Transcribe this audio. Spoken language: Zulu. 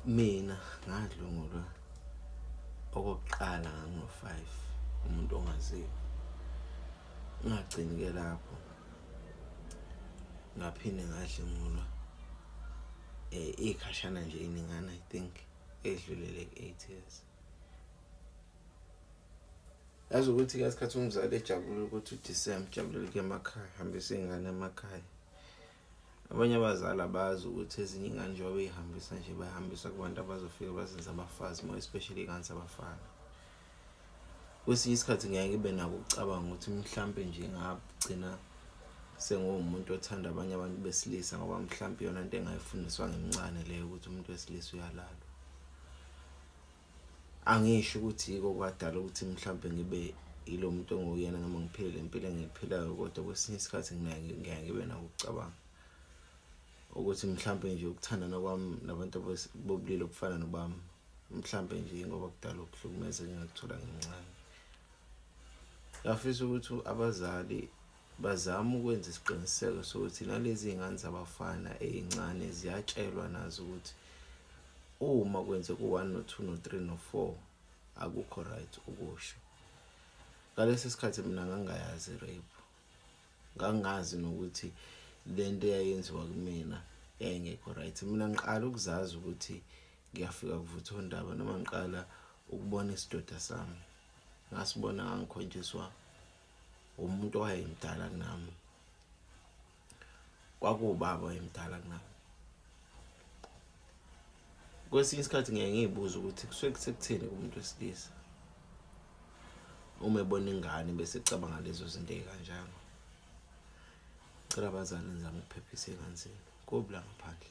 mina ngadlungulwa okokuqala ngango-5 umuntu ongaziwa ngagcini-ke lapho ngaphinde ngadlungulwa um eh, iyikhashana nje iningana i think edlulele ku-eight years yazi ukuthi kasikhathi umzali ejabulile ukuthi udisembe ujabulile ke emakhaya hambisa iy'ngane emakhaya abanye abazali abazi ukuthi ezinye ingane njengoba beyihambisa nje bayihambisa kubantu abazofika bazenze abafazi more especially iy'ngane zabafana kwesinye isikhathi ngeke ngibe nako ukucabanga ukuthi mhlawumpe nje ngagcina senguwumuntu othanda abanye abantu besilisa ngoba mhlawumpe yona into engayifundiswa ngimncane leyo ukuthi umuntu wesilisa uyalalwa angisho ukuthi yiko kwadala ukuthi mhlawumbe ngibe yilo muntu onguyena noma ngiphile le mpilo engiyiphilayo kodwa kwesinye isikhathi ngiyaye ngibe nawo ukucabanga ukuthi mhlawumbe nje ukuthandana kwami nabantu bobulili obufana nobami mhlawumbe nje ngoba kudala ukuhlukumeza engingakuthola ngincane ngafisa ukuthi abazali Bazama ukwenza isiqiniseko sokuthi nalezi ngane zabafana ezincane ziyatshelwa nazo ukuthi uma kwenzeka u-1 no-2 no-3 no-4 akukho right ukusho ngalesi sikhathi mina ngangayazi rape ngangazi nokuthi le nto eyayenziwa kumina yayingekho right mina ngiqala ukuzazi ukuthi ngiyafika kuvutha ondaba noma ngiqala ukubona isidoda sami ngasibona ngangikhonjiswa umuntu owayemdala kunami kwakuwubaba wayemdala kunami kwesinye isikhathi ngeke ngiyibuza ukuthi kusuke kusekuthini kumuntu wesilisa uma ebona ingane bese ecabanga lezo zinto ey'kanjalo cela abazali nizame ukuphephisa ey'ngane zenu kubi la ngaphandle